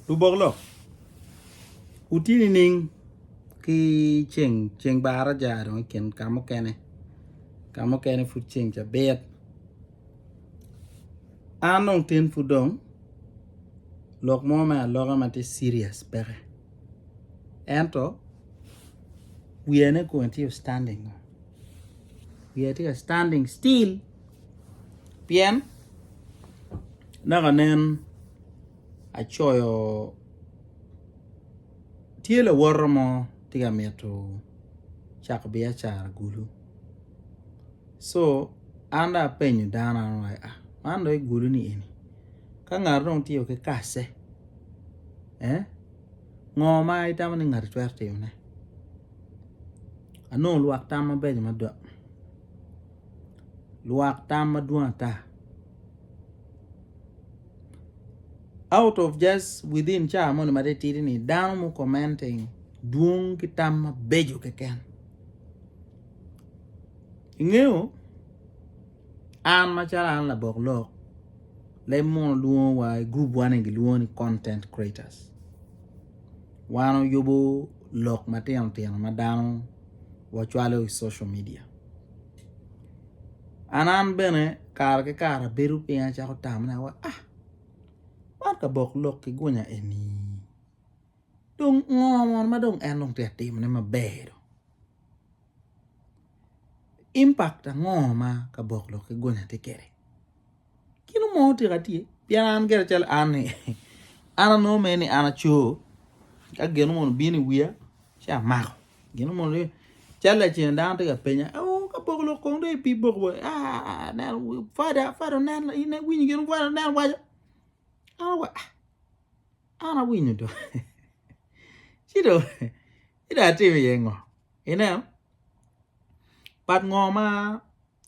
Lubok lok, wutye nining ki ceng ceng bar aja dong i kin ka mukene ka mukene pud ceng cabit an dong tin pud dong lok mo me aloka ma tye serious peke ento wiyane kong tye standing wiyane tye ka standing still. Pien naka nen acoyo tye lawote mo tye ka mito cako biacara kulu so an dong apenyo dano meno ni man dong kulu ni eni ka ngat dong tye ki kace ngo ma itamo ni ngati twero timone anongo lwak tam mabeco mada. lwak tam madwong ata out of just within car moni matitidi ni dano mu commenting dwong ki tam mabeco keken ingeyo an macalo an labok lok leb mono lwongo wa i group wa ni gilwongo ni content creators wan oyubo lok matino tino ma dano wacwalo i social media An an bene kare ki kare abedo piny acako tamona wa a man kabok lok ki gunya eni dong ngo mono ma dong en dong tye ka timone maber dong impact ango ma kabok lok ki gunya tye kwede. Gin onongo tika tye? Pien an gire cal an ni an anongo mere ni an aco ka gin onongo bino i wiya ci amako gin onongo ni cal lacen dano tye ka penya o ka boko lok kong dong ipi boko wa aneno fada fada oneno in iwinyo gin fada oneno waco an awaco ah An awinyo dong. Ci dong ci dong atimo iye ngo? Ineno, part ngo ma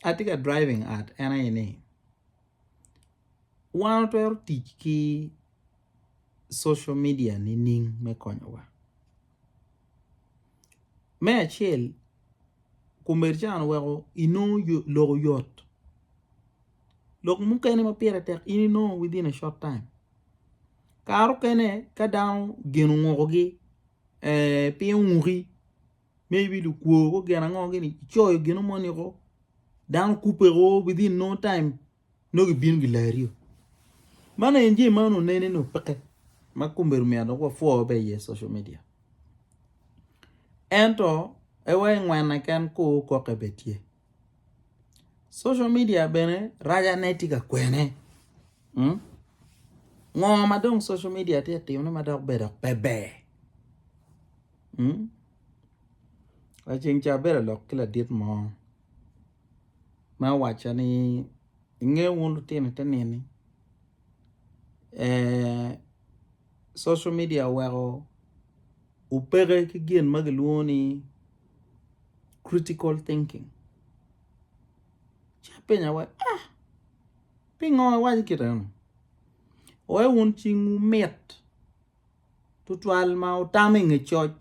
atye ka driving at en aye ni wan watwero tic ki social media nining me konyowa? me acel kombeddi weko inongo lok oyot lok mukene ma pire tek in inongo within a short time kare mukene ka dano gin ongokogi piny onguki maybe lukwo gin ango gini icoyo gino moni woko dano kubbe woko within no time nongo gibino gilario. Man aye jami ma onongo nene ni opeke ma kombedo myero dok wapwo be iye social media. Ento ewa ingwene ken ku koke be tye. Social media bene rajane tye ka kwene. Hmm? Ngo ma dong social media tye timone ma dok bedo pe ber? Hmm? Laceng ca abedo lok ki ladit mo ma owaco ni inge wun lutino te nini social media oweko opeke ki gin ma kilwongo ni critical thinking ci apenyo wa ah pingo iwaco kit meno wai wun cingwu mit tutwal ma otamo i nge coc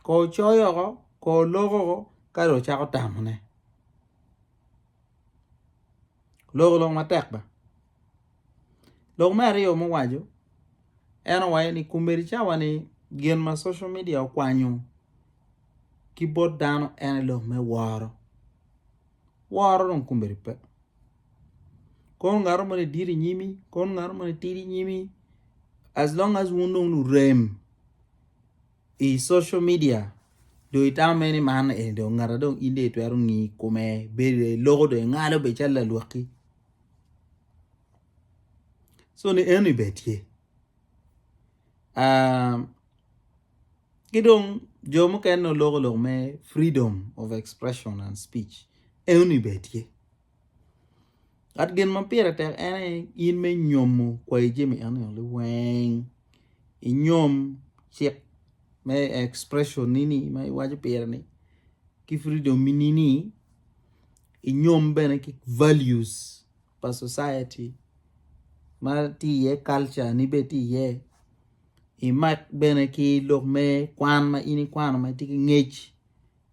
ko coyo oko ko oloko oko ka dong ocako tamone loko lok matek ba lok me aryo ma owaco en owaco ni kombeddi cawa ni gin ma social media okwanyo ki bot dano en aye lok me woro, woro dong kombeddi pe. kono ngato moni dit inyimi kono ngato moni tidi inyimi as long as wun dong lurem i social media dong itamo mere ni man eni dong ngata dong in dong itwero ngi kome bedo dong iloko dong ingalo bene calo lalwakki so ni eni bene tye ki dong jo mukene dong loko lok me freedom of expression and speech eno ni bene tye Kat gin ma pire tek en aye in me nyomo kwayi jami eno ni weng inyom cik me expression nini ma iwaco pire ni ki freedom ni ni inyom bene ki values pa society ma tye iye culture ni bene tye iye imak bene ki lok me kwan ma in ikwano ma itye ki ngec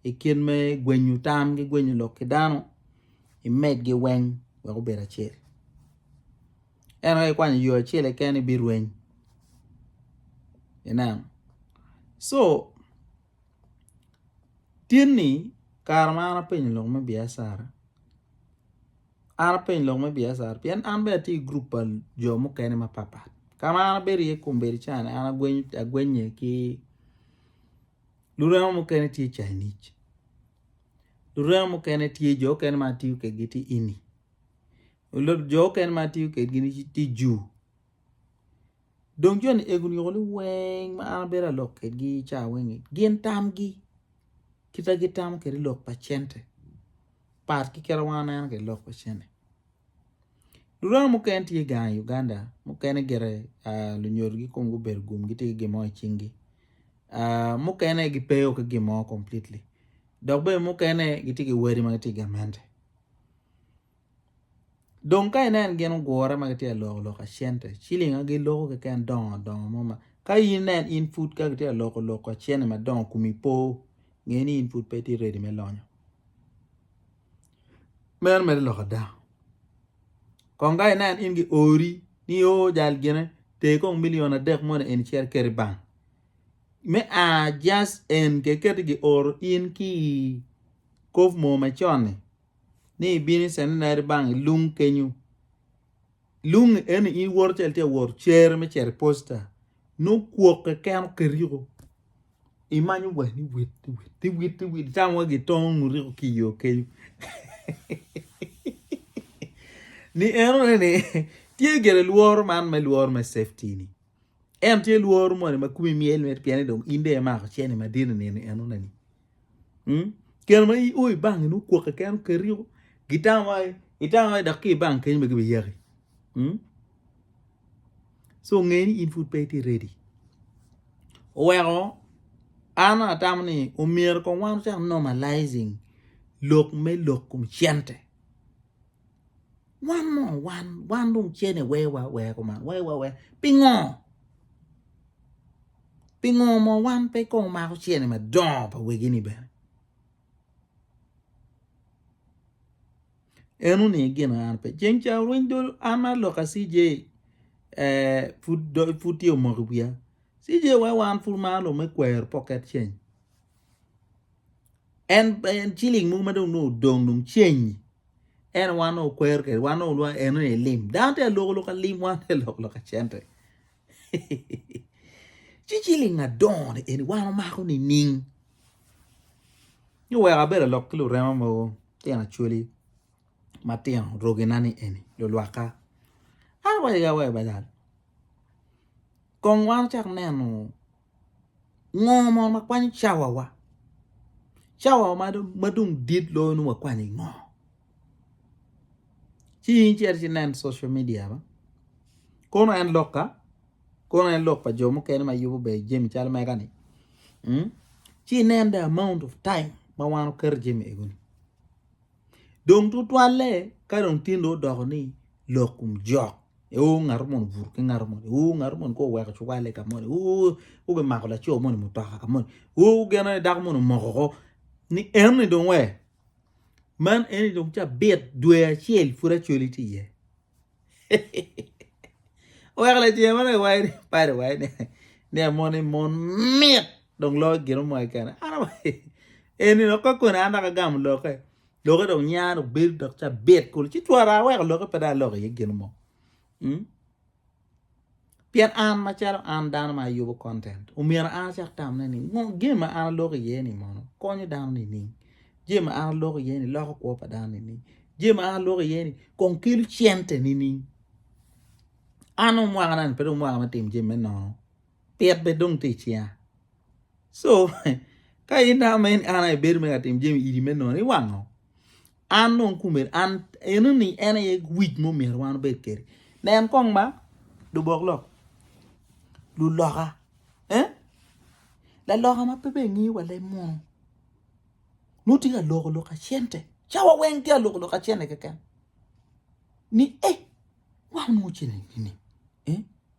i kit me gwenyo tam ki gwenyo lok ki dano imedgi weng wek obed acel ento ka ikwanyo yo acel keken ibirweny ineno co tin ni kare ma an apenyo lok me Biacara an apenyo lok me Biacara pien an bene atye i gurup pa jo mukene mapat pat ka ma an abedo iye kombeddi ca ni an agwenye ki Lurema mukene tye Chinese. Lurema mukene tye jo okene ma atiyo kedgi tye Indi. Jo okene ma atiyo kedgi ni tye Jew. Dong jo ni ego nyuko ni weng ma an abedo alok kedgi ca weng ni gin tamgi kita gitamo kede lok pa cente part ki kite ma wan waneno kede lok pa cente. Luranga mukene tye gang i Uganda mukene gire lunyodo gikom gubedo gum gitye ki gin mo i cingi mukene gipe o ki gin mo completely dok bene mukene gitye ki wadi ma gitye i gamente dong ka ineno gin ogure ma gitye ka loko loka cente ciling ma giloko keken dongo dongo mo ma ka inen in pud ka kitye ka loko loka cente madongo kumi po ngeni in pud pe itye ready me lonyo. meno mere lok ada kong ka inen in gi ori ni o jal gine ter kong million adek moni eni cito ket i bank me a just en kiketo ki oro in ki i kop moo macon-ni ni ibino i centenary bank i lung kenyo lung-ngi eno in iwoto calo itye ka woro cere me cito i posta nongo kwok keken oketo yiko. Imanyo wani wit wit wit wit cam wa gitongo nguriko ki yo kenyo. Ni eno ni tye gere lworo man me lworo me safety ni. En tye lworo moni ma kumi miel met pien ni dong inde mako cheni madit ni eno ni. Hmm? Keno ma o i bangi no kwok keno keriko gitango ai itango ai dok ki bangi kenyo ma gibiyaki. Hmm? so nge ni in pud pe itye ready oweko an atamo ni omyero kong wan ocak normalizing lok me lok kom cente wan mo wan wan dong cene wewa weya kuman wewa weya pingo pingo mo wan pe kong omako cene madongo pa wegi ni bene. En oniang ni gin aye an pe. Ceng ca orweny dul an ma lok a CJ pud tye omoko i wiya. CJ wa wan pud maro lok me kwero pocket change. En ciling mogo ma dong nongo odong dong ceng en aye wan nongo okwero kwede wan nongo lwongo ni en aye lim. Dano tye ka loko loka lim wan tye ka loko loka cente. Ci ciling adongo ni eni wan omako nining? Nyo wek abed alok ki lurema mogo, tyen acwali matino rogina ni eni, lulwakka. An awaco ki awaco bada, kong wan ocak neno. Ngo mono ma kwanyo cawawa? Cawawa ma dong dit loyo nongo wakwanyo i ngo? Ci in icito ci nen social media ba. Kono en lok ka? Kono en lok pa jo mukene ma yubo ber jami calo mega-ni? Hmm? Ci inen the amount of time ma wan oketo jami egoni. dong tutwalle ka dong tye dong odoko ni lok kom jok oo ngato mono obuto ki ngato moni oo ngato moni kong oweko cuwale ka moni oo gumako laco moni mutoka ka moni oo geno aye dako moni omoko oko ni en ni dong wer man eni dong cabit dwe acel pud acwali tye iye. Oweko lacen ma dong iwaco ni pad iwaco ni ni amoni mon mit dong loyo gin mo keken an eni dong ka koni an dok agamo lokke lokke dong nya dong bedo dok cabit kulu ci twara aweko lokke pe dong aloko iye gin mo. Pien an macalo an dano ma ayubo content, omyero an acak tamone ni ngo jami ma an aloko iye ni mono konyo dano nining? Jami ma an aloko iye ni loko kwo pa dano nining? Jami ma an aloko iye ni kong kelo cente nining? An dong mwaka na ni pe dong mwaka me timo jami me nono. Pit bene dong tye icinga. So ka in dano ma in an aye ibedo me ka timo jami idi me nono iwang ngo? An dong kumeni an eno ni en aye wic mo myero wan obed kedi. Nen kong ma lubok lok luloka eh laloka ma pe be ngiyo wa leb munu nongo tye ka loko loka cente ca wa weng tye ka loko loka cente keken ni eh wang nongo cente ni eh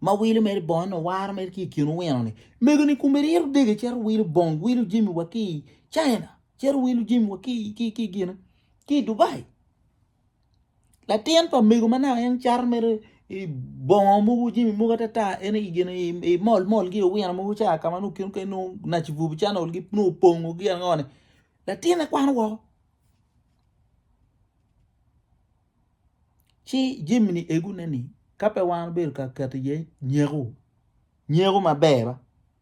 ma wilo mere bongo eno waro mere ki ikin owino ni mego ni kume rito dege cito wilo bong wilo jimi wa ki China cito wilo jimi wa ki ki ki gine ki Dubai latin pa mego ma naka en caro mere i bongo mogo jimi mogo atata en i gine i mol mol gi owino mogo ca kama nu kin ken nu naci bubu channel gi nu pongo gi angone latin e kwano woko Ci jami-ni egune-ni ka pe wan obedo ka keto iye nyeko, nyeko maber ba,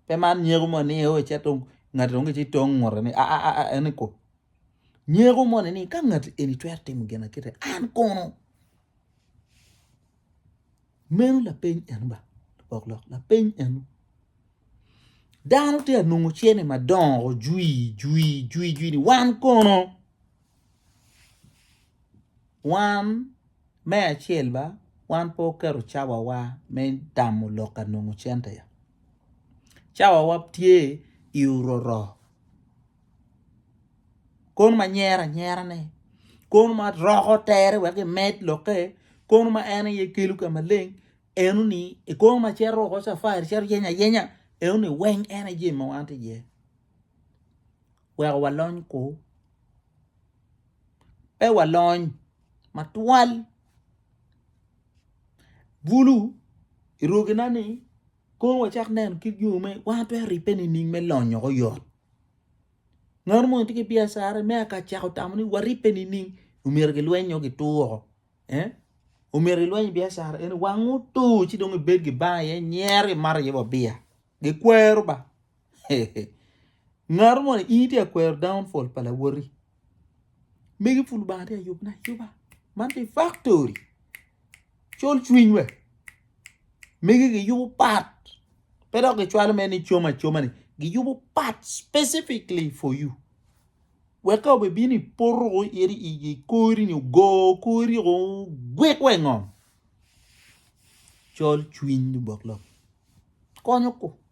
pe man nyeko mo ni eo ecet dong ngati dong ci tong ngute ni aa en iko. Nyeko moni ni ka ngati eni twero timo gina kite an kono? Meno lapeny eno ba lubok lok lapeny eno. Dano tye ka nongo cene madongo jwi jwi jwi jwi ni wan kono? Wan, me acel ba, wan pe waketo cawawa me tamo lok ka nongo cente. Cawawa tye i ororo. Kono ma nyero anyera-ne, kono ma roko tere wek emed lokke, kono ma en aye kelo ka maleng, eno ni, i kono ma cito woko cafari, cito yeny ayenya, eno ni weng en aye jami ma wan tye iye. Weko walony ku pe walony matwal bulu i rogina ni kono wacak neno kit yo ma wan watwero ribbe nining me lonyo woko yot ngat moni tye ki biacara me aka cako tamo ni waribbe nining omyero gilweny nyo gitur woko omyero ilweny i biacara eni wang otur ci dong ibed gibanga iye nyero imat iye wa biya gikwero ba. Ngato mo ni in itye ka kwero downfall pa lawoti. Megi pud Lubanga tye ka yubone ayuba. Man tye factory. Col cwiny we. Megi giyubo pat. Pe dok gicwalo mere ni com acoma ni. Giyubo pat specifically for you. Wek ka obibino i poto ko iri i kori nyo go kori ko gwik we ngom. Col cwiny Lubok lok. Konyo ko.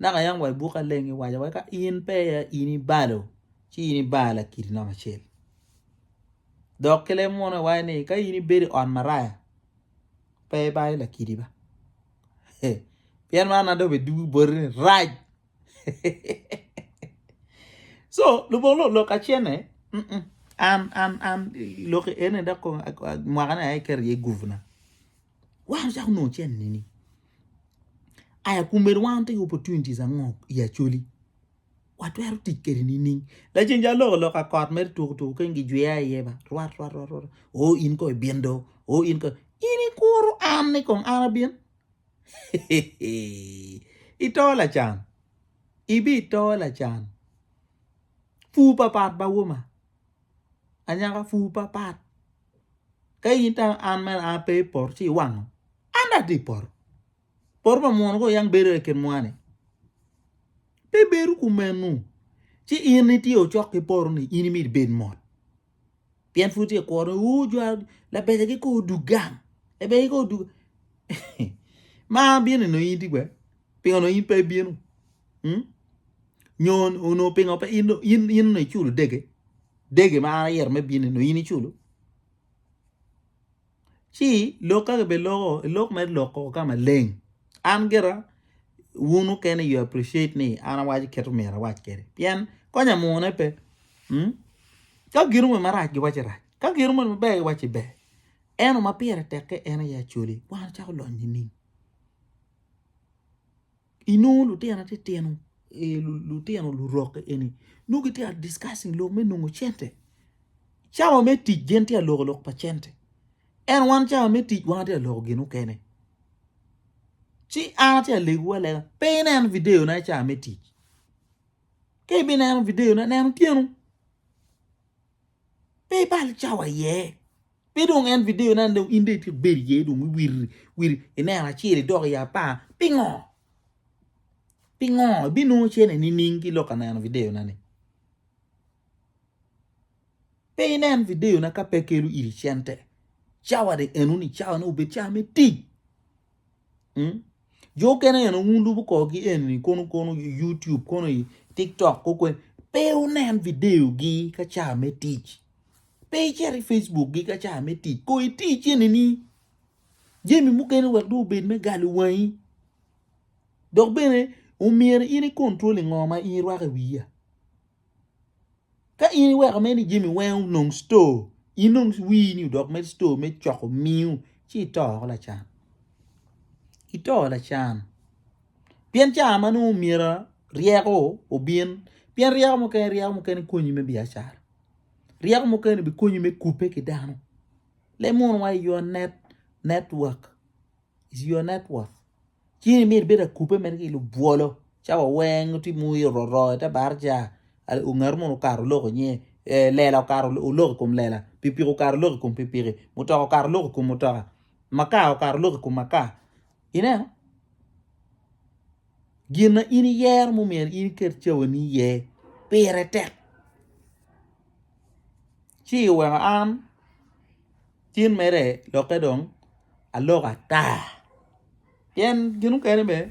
Naka yam wa i buk maleng kiwaco wai ka in pe aye in ibalo ci in ibar lakiri namba acel dok ki leb munu iwaco ni ka in ibedo i ot maraya pe ibalo lakiri ba pien mano na dong obedo dwogo boti ni rac so lubong lok lok kacene an an an lok eni dok mwaka ni aye aketo iye gupu na. Wan ocako nongo cen nini? Aya kumbedo wan wutye ki opportunities ango i Acholi? Watwero tic kede nining? Laceng ja loko loka kot mere tuku tuku keng gijwiya iye ba rwat rwat rwat rwat o in ko ibin do o in ko in ikuru an ni kong an abin ito lacan ibi ito lacan pur papat bawoma anyaka pur papat Ka in tam an mere an ape i poto ci iwango. An dong atye i poto. Poto pa munu kong yam bedo i kin mwa-ni. Pe bedo kumenu. Ci in itye ocok ki poto-ni in imito ibed mot. Pien pud tye ka kuro ni uu jo labecagi kong odug gang, labecagi kong odug ma an abino neno in iti kwede? Pingo onongo in pe ibino? Nyo onongo pingo in onongo iculo dege? Dege ma an ayero me bini nongo in iculo? Ci lok ka kebe loko, lok mere lok koko ka maleng. An gira wun mukene you appreciate ni an awaco keto myero awac kede. Pien konya mune pe. Hmm? Ka gin omo marac giwace rac. Ka gin omo maber giwace ber. Eno ma pire tekke en aye acoli. Wan acako lony nining? Inongo lutino atitino eh, lutino lurokke eni nongo gitye ka discussing lok me nongo cente. Cawa me tic gin tye ka loko lok pa cente. En wan cawa me tic wan atye ka loko gin mukene. Ci an atye ka lego alega pe inen videona i cawa me tic. Ka ibineno videona neno tyenu. Pe ibal cawa iye. Pe dong en video na dong in dong itye bedo iye dong iwir wir ineno acel idok i apar pingo? Pingo ibinongo cene nining ki lok ka neno video na ni? Pe inen video na ka pe kelo iri cente. Cawa dong eno ni cawa ne obed cawa me tic. hmm? jo okene eno wun lubo korgi eni kono kono youtube kono i tiktok kokwen pe wunen videogi ka ca me tic pe icito i facebook gi ka ca me tic ko itic enini jemi mukene wek dong obed me galo wangi dok bene omyero in i control ngo ma in irwako i wiya Ka in iweko mere ni jami weng onong store in dong wir ni odok mere store me coko miu ci ito woko lacan, ito lacan pien ca ma nongo omyero ryeko obin pien ryeko mukene ryeko mukene konyi me biacara ryeko mukene bikonyi me kubbe ki dano lemono wa is your net network is your network. Cing ni myero ibed akubbe mere ki lubwolo cawa weng tye ma oyero oro i te barca ongaro mono okato olok inge lela okato olok i kom lela pikipiki okato olok i kom pikipiki mutoka okato olok i kom mutoka maka okato olok i kom maka ineno gin ma in iyero ma omyero in iket cawani iye pire tek ci iweko an. cen mere lokke dong aloka ata pien gin mukene bene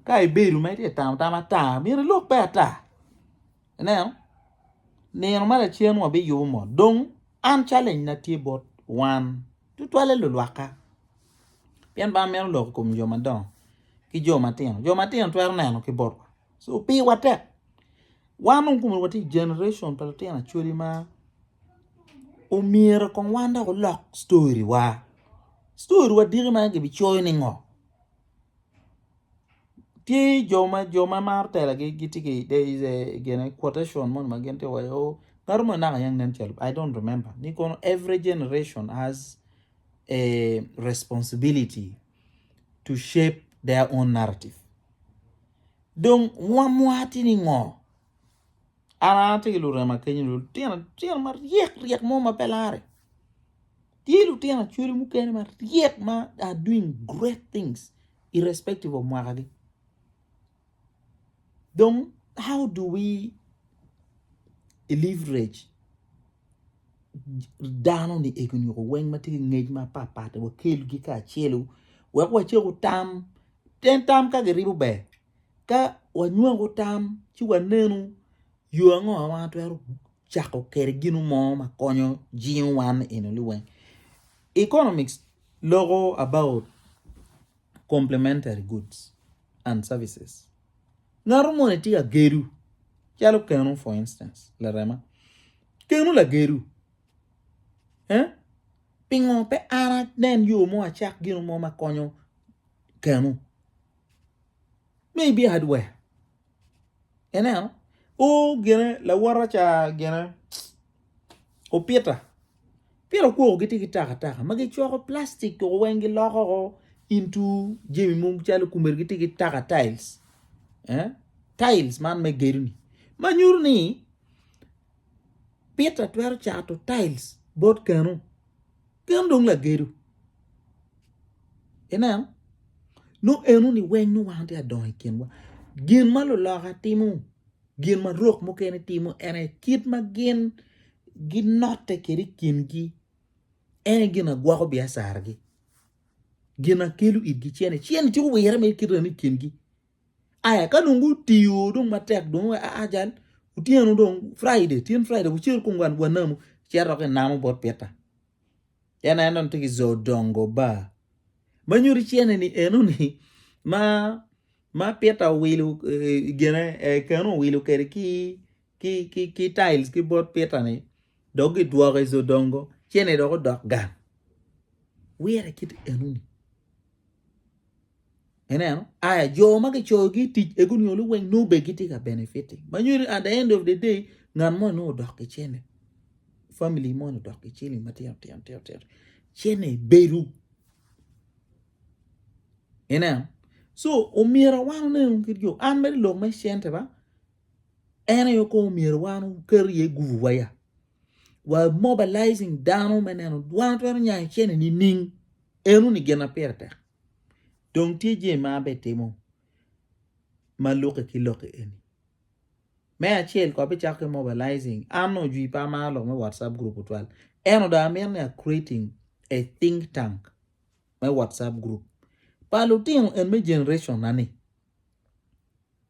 ka ibedo ma itye ka tamo tam ata myero ilokke ata ineno nino ma lacen wa biyubo mot dong an challenge na tye bot wan tutwalle lulwakka pien ba meno lok i kom jo madongo ki jo matino jo matino twero neno ki botwa. so piwa tek wan dong kome watye i generation pa lutino acholi ma omyero kong wan dok olok story wa story wa diki ma kibi coyo ni ngo tye jo ma jo ma maro tela gi gitye ki there is a quotation moni ma gin tye ka waco ni o ngatu moni naka yang nen calo I don't remember ni kono every generation has a responsibility to shape their own narrative Dong wamwati ni ngo? An atye ki lurema kenyo lutino acel maryek ryek mo ma pe lare. Tye lutino acholi mukene maryek ma are doing great things irrespective of mwaka gi. Dong how do we leverage dano ni ego nyo weng ma tye ki ngec ma papat wakelgi kacelu wek wacek otam pien tam ka giribo ber ka wanywako tam ci wanenu yo ango ma watwero cako kwede gino mo ma konyo jingo wan enoni weng economics loko about complementary goods and services. Ngato moni tye ka gedo calo keno for instance larema keno lagedo eh pingo pe an anen yo mo acak gino mo ma konyo keno maybe hardware ineno o gine lawote ca gine. opita pien okwoko gitye ki takataka ma gicwako plastic koko weng giloko woko into jami mogo calo kumeri gitye ki taka tails tails man me gedoni ma nyuto ni pita twero cato tails bot keno, keno dong lagedo ineno nongo enoni weng nongo wan watye ka dongo i kinwa gin ma luloka timo. Gin ma rok mukene timo ene kit ma gin ginotte kede i kingi ene gin agwoko biacaragi. Gin akelo itgi cene cene ci wirre me kite ni kingi. Aya ka dong gutiyo dong matek dong wa a jal otyeno dong Friday tyen Friday wucel kong wa namu ci aroki namo bot pita. en aye nongo tye ki zo dongo bar ma nyuto cene ni enoni ma ma pita owilo gine keno owilo kede ki ki ki ki tiles ki bot pitani dok gidwoko izo dongo cene dok odok gang wire kit enoni. Ineno? Aya, jo ma kicoyogi i tic ego nio luweny nongo bene gitye ka benefiting. Ma nyo ni at the end of the day, ngat moni nongo odok ki cene. Family moni odok ki ciling matino tino tino tino. Cene bedo. Ineno? So, omyero wan oneno kit jo. An mere lok me cente ba, en aye kong omyero wan oket iye gubu wa ya. Wa mobilizing dano me neno, wan twero nyayo cene nining? Eno ni gin na pire tek. Dong tye jami ma an bene timo ma lukke ki lok eni. Me acel ko abicako ki mobilizing. An nongo jwi pa amaro lok me WhatsApp group otwal. Eno dong amito ni a creating a think tank me WhatsApp group pa lutino en me generation na ni.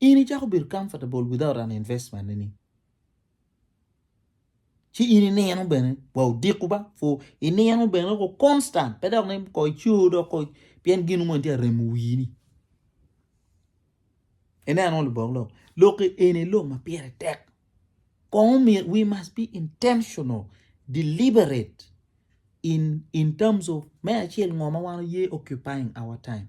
in icako bedo comfortable without an investment ni ci in inino bene wa odiko ba fu inino bene ko constant pe dok ni ko ico dok ko pien gin mo tye aremo wini ineno libok lok lok eni lok ma pire tek kong we must be intentional deliberate in in terms of me acel ngo ma wan oye occupying our time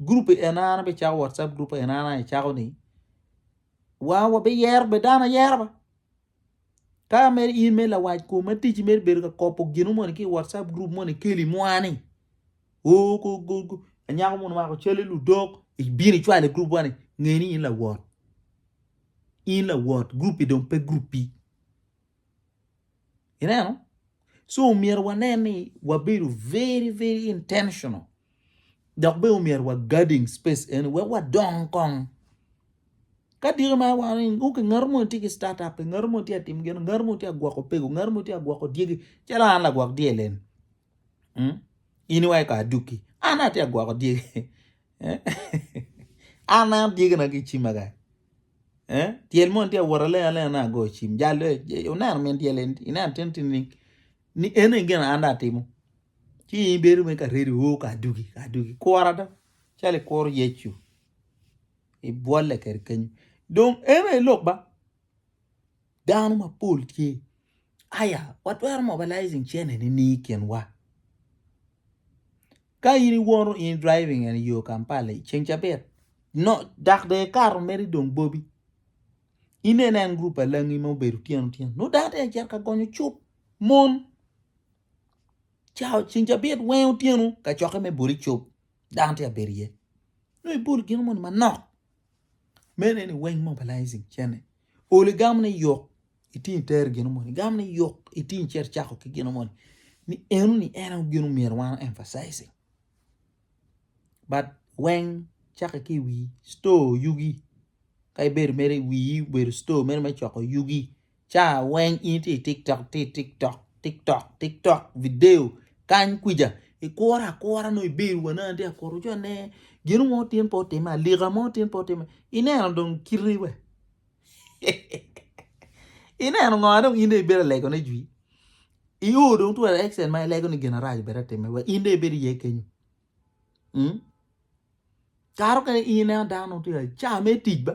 group en an abe cako whatsapp group en an aye cako ni wa wa be yero be dano yero ba ka mer in me lawac kom me tic mer bedo ka kopo gino moni ki whatsapp group moni keli mwani o go go go anyako moni mako cali ludok ibini cwale group wani ngeni in lawot in lawot group dong pe group pi Ineno? So omyero wanen ni wabedo very very intentional dok be omyero wa guarding space eni wek wadong kong. Ka diki ma wano ni ok ngat mo tye ki start up, ngat mo tye atim gino, ngat mo tye agwoko pego, ngat mo tye agwoko dyegi, calo an lagwok dyel eni. Hmm? In iwaco ka aduki, an atye agwoko dyegi. An an tye gin ki cim kaka tyel moni tye wot alenga alenga nongo agoyo cim jal le ineno min tyel eni ineno tye nining ni eni aye gin an dong atimo ci in ibedo mere ka ready oo ka adugi ka adugi kura ada calo ikuro Yecu ibwolle kwede kenyo dong eno aye lok ba. Dano mapol tye. Aya, watwero mobilizing cene ni ni kinwa. Ka in iwoto in driving and yo Kampala i ceng cabit, no, dak de ikato meri dong bobi, inen en group alangi ma obedo tyeno tyeno, no dano tye acito ka gonyo cup, mon, cao ceng cabit weng otyeno kacokke me boli cup, dano tye abedo iye. No ibolo gino moni manok. Mene ni weng mobilizing cene. Oli gam ni yok iting ter gino moni. Gam ni yok iting cer chako ki gino moni. Ni eno ni eno gino myero wan emphasizing. But weng chake ki wi store yugi. Ka ibedo mere wi bedo store mere me choko yugi. ca weng in itye i tiktok itye i tiktok tiktok tiktok video kany kwica ikure akura nongo ibedo wa nongo atye ka kuto ci wane gino mo tin pe otimme alika mo tin pe otimme ineno dong kiti be ineno ngo ma dong in dong ibedo ka legone jwi io dong twero action ma ilego ni gin marac obed atimme wek in dong ibed iye kenyo kara mukene in ineno dano dong tye ka car me tic ba.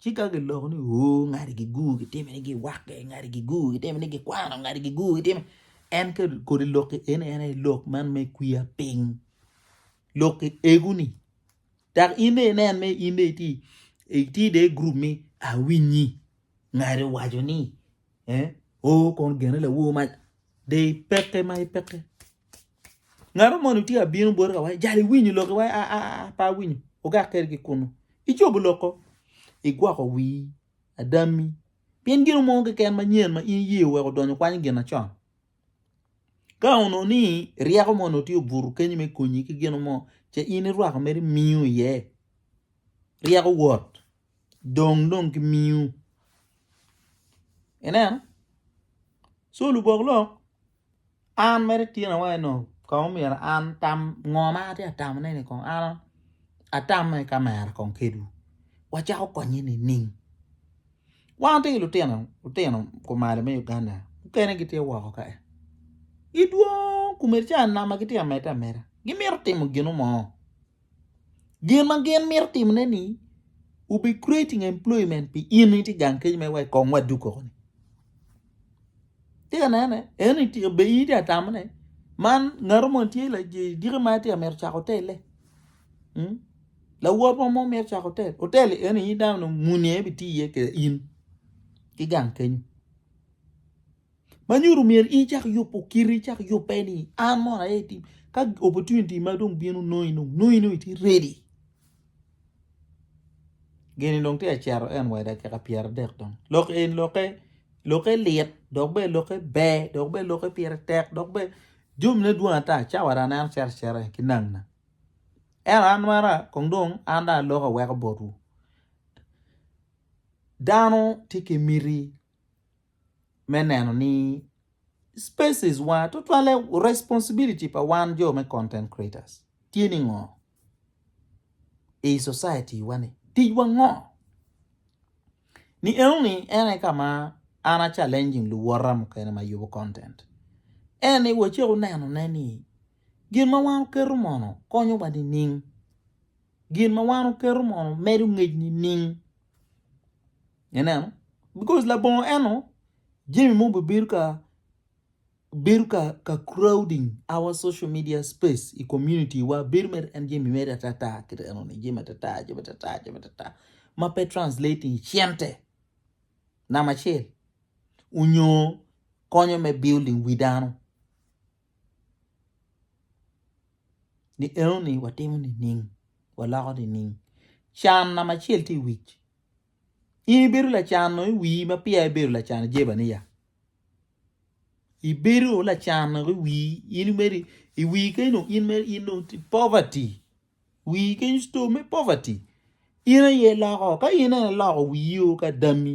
Ci ka giloko ni, Oo, ngati gigur gitime ni giwakke, ngati gigur gitime ni gikwano, ngati gigur gitime. En ke kodi lokki en en aye lok man me kwiya piny. Lokki eguni. Dok in ne inen me in ne iti iti de grup mi awinyi ngati owaco ni Eh, o kon gene lawo ma de ipeke ma ipeke. Ngaro moni tye abino boti ka wai, jali winyo lok wai a a a pa winyo. Ogak keri ki kunu. Icobo loko. Igwoko wi adami. Pien gino mo keken ma nyen ma in iye weko donyo kwanyo gin acon. Ka ono ni ryeko mo no tye obuto kenyi me konyi ki gino mo, ce in irwako meri miyo iye. Ryeko wot. dong dong ki miu ineno so lubok lok an mere tyena wa eno kong omyero an atam ngo ma atye ka tamo ne ni kong an atame ka mera kong kedwu wa cako konye nining wan watye ki lutino lutino kumalo me Uganda mukene gitye woko ka gidwong komedi calo anama gitye ka medde ameda gimito timo gino mo. Gin ma gin mito timone ni will be creating employment pi in itye gang kec me wek kong wa duko ni. Tye ka nene? En itye be itye atamone. Man ngato mo tye la diki ma tye mito cako otelle. Hmm? Lawot mo mo mito cako otel. Otel en in dano muni en bitiye ke in ki gang kenyo. ma nyuto myero in cak yubo kiti cak yubbe ni an mono aye tim ka opportunity ma dong bino nongi dong nongi dong itye ready gini dong tye ka cito en wa i dakika pyera adek dong lok eni lokke lokke lit dok bene lokke ber dok bene lokke pire tek dok bene jomine dwong ata cawa dong aneno cito acita ki nangina ento an mara kong dong an dong aloko aweko botwu dano tye ki miti me neno ni species wa tutwalle responsibility pa wan jo me content creators tye ni ngo i society wa ni tic wa ngo ni eno ni en aye ka ma an a challenging luwota mukene ma yubo content en ni wa ce wuneno ne ni gin ma wan wuketo mono konyo wa ni ning gin ma wan wuketo mono medo ngec ni ning Ineno? Because labongo eno jami mo bibedo ka bedo ka ka crowding our social media space i community wa bedo mere en jami mere atata kit eno ni jami atata jami atata jami atata ma pe translating i cente nama acel onyo konyo me building wi dano ni eno ni watimo nining waloko nining can nama acel ti i wic In ibedo lacano i wii ma peya ibedo lacano i Jebania. Ibedo lacano i wii in meri i wii keno in meri in dong poverty. Wii keny store me poverty. In aye loko ka in ene loko wii o ka dami.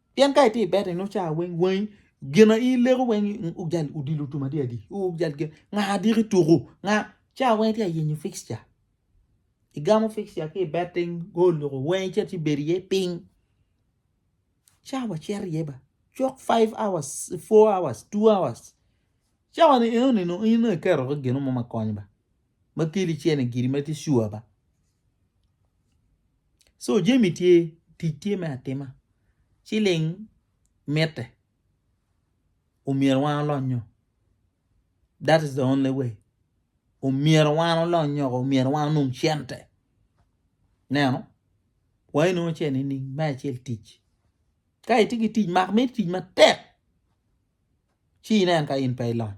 Pien ka itye i beta inongo cawa weng wangi gin aye ileko weng ojal odilo tum adi adi ojal gin nga adiki tuku nga cawa weng itye ka yenyo fixture igamo fixture ki i betting go oloko weng icit ci ibedo iye piny cawa cito iye ba cok five hours, four hours, two hours cawa ni enoni nongo in nongo iketoki gin mo ma konyo ba ma keli cene giri ma tye sure ba. So jami tye, tic tye me atima. Ciling mitte omyero wan olony nyo. That is the only way. Omyero wan olony nyo, omyero wan onong cente. Neno, wa inongo cene nining? Me acel tic. Ka itye ki tic mak miti tic matek ci inen ka in pe ilony.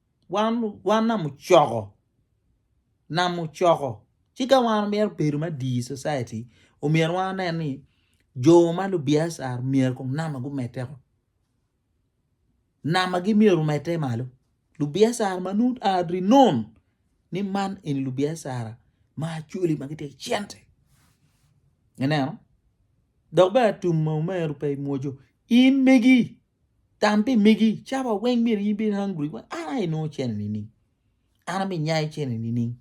Wan wan nam ocoko nam ocoko ci ka wan omyero obedo me adii i cociti omyero wan wane ni jo ma lubiacar myero kong nama gumedde woko namagi myero omedde malo lubiacara ma nongo gua rinon ni man eni lubiacara ma actually ma gitye ki cente ineno dok bene tum ma omeri pe imwoco in megi. Tam pi megi, caba weng myero in bed hungry wek an aye nongo cene nining? An ami nyai cene nining?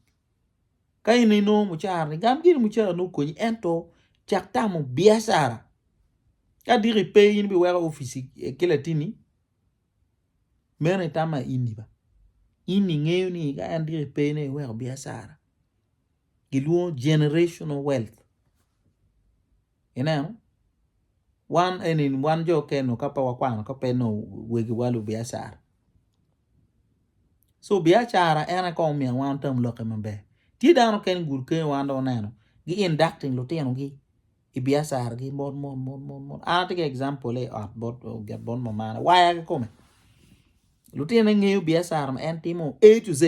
Ka in inongo mucara ni gam giri mucara ni okonyi ento cak tamo biacara. Ka diki ipe in biweko ofici eh, ki latini meno itama ini ba. In ingeyo ni ka en diki ipe ne iweko biacara. gilwongo generational wealth ineno wan eni wan jo kene ka pe wakwano ka pe nongo wegiwa lubiacara so biacara en aye kong omiyo wan tam lokke maber tye dano mukene gudo kene wan dong oneno gi inducting lutinogi i biacaragi mot mot mot mot mot an atye ki example-le i ot bot ogit bot mamana waya kikome lutinone ngeyo biacara ma en timo A to Z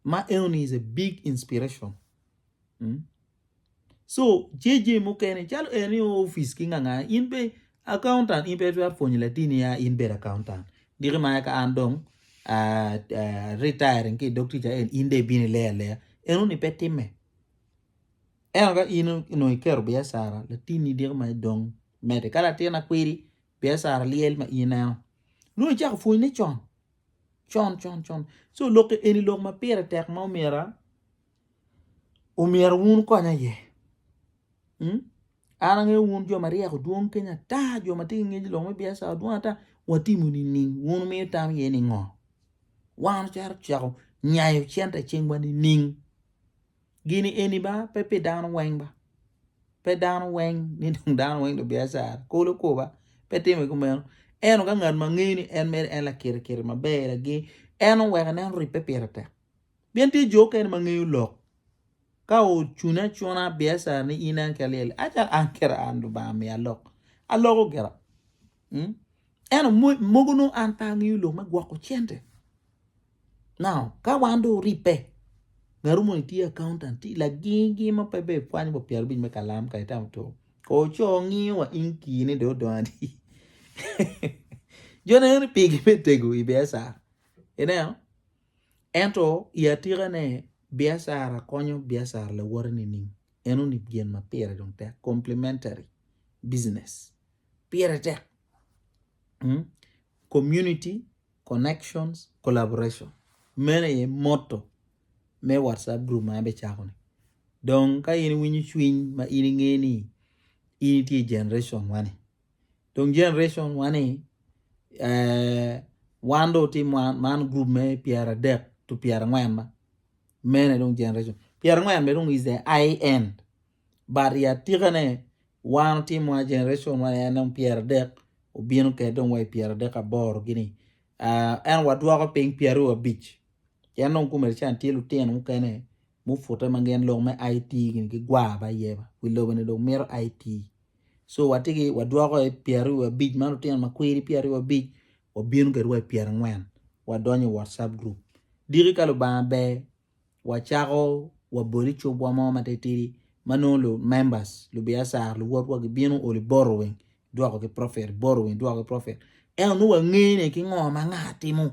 ma enoni is a big inspiration mm? so JJ mukene calo en i office ki nganga in be accountant in pe twero pwonyo latini ya in bedo accountant diki ma ka an dong uh, uh, retiring ki dog tica en in de bini leya leya enoni pe timme eno ka in no ikero biacara latini diki ma idong mede ka latin akwiri biacara lyel ma in eno nongo icako pwonyne con con con con so lok eni lok ma pire tek ma omyera omyero wun konya iye hmm? an angeyo wun jo ma ryeko dwong kenya ata jo ma tye ki ngec lok me biacara dwong ata watimo nining wun miyo tam iye ni ngo wan ocaro ceko nyayo cente i cingwa nining Gini eni ba pe pi dano weng ba, pe dano weng ni dong dano weng dong biacara kolo kor ba pe timme kumeno ento ka ngat ma ngeyo ni en mere en lakirikiri maber lageng en oweko en oribbe pire tek pien tye jo mukene ma ngeyo lok ka ocune acuna biacara ni in en kit alyel-li acalo an kit an Lubanga omiya lok aloko gira. Hmm? Eno mogo nongo an pe angeyo lok me gwoko cente. Now, ka wan do oripe, ngaru moni tye accountant, tye lagingi ma pe be pwanyo pa pyero bic me kalam ka itamo to. Ko co ngiyo wa in ki ni do dongo adi. Jone ni pigi me tego i biacara. Ineo? Ento i atika ne, biacara konyo biacara lawote ni ning. Eno ni gen ma pire dong tek, complementary business. pire tek. Community connections collaboration meno aye motto me WhatsApp group ma an bicako ni. Dong ka in iwinyo cwiny ma in inge ni in itye i generation wani. Dong generation wani eh, wan do tim wan man group me pyera adek to pyera angwen ma mene dong generation pyera angwen be dong is the high end but i atikane wan otimo wa generation ma en dong pyera dek obino kede dong wa i pyera dek aboro gini uh, en wadwoko piny pyera abic en dong kumere can tye lutino mukene mufute ma gin lok me IT gini gigwa ba yeba wi lobo ni dong mito IT so watigi wadwoko i pyera abic ma lutino ma kwiri pyera abic wabino kede wa i pyera angwen wadonyo i WhatsApp group diki ka Lubanga ber wacako wabol i cubwa mo matitidi ma nongo lu members lubiacara luwotwa gibino oli boro weng dwoko ki profit boro weng dwoko ki profit ento nongo wangeyo ne ki ngo ma nga timo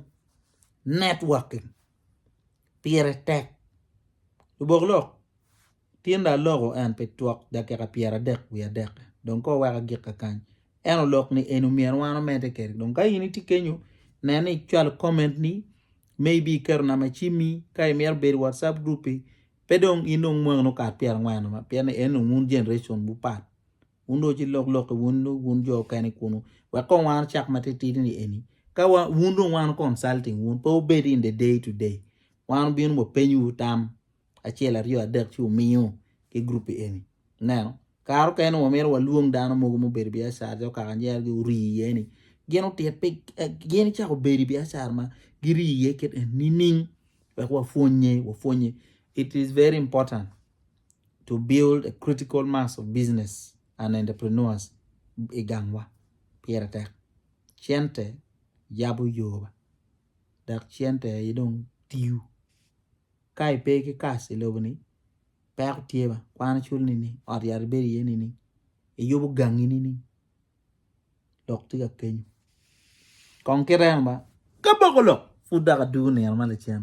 networking pire tek lubok lok Tinda aloko en pi twok dakika pyeradek wiye adek, dong ka oweka gik kakany. En olok ni eni omyero wan omedde kede. Dong ka in itye kenyo, nen ni icwalo comment ni, maybe iketo namba cimmi, ka imito bedo i WhatsApp group-pi, pe dong in dong mwaki nongo kare pyerangwen noma, pien ni en dong wun generation wu pat. Wun dong ci lok loki wun dong wun jo okene kunu. Wek kong wan ocak matitidi ni eni, ka wa, wun dong wan consulting wun, pe wubed in the day to day. Wan wubino wapenyiwu tam. acel aryo adek ci wumiyo ki group-pi eni. Ineno? Kare mukene wa mito walwong dano mogo mubedo i biacara calo kaka nyergi ori iye-ni. Gin otit pi eh, gin cako bedo i biacara ma giri iye kit en nining wek wapwonnye, wapwonnye. It is very important to build a critical mass of business and entrepreneurs i gangwa. Pire tek. Cente yabo yoba dok cente aye dong tiyo. ka i pe ki kas i lobo ni peko tye ba kwano cwalo nining ot yat i bedo iye nining i yubo gangi nining lok tye ka kenyo kong kit eno ba ka boko lok pud dok adugo nino ma lacen.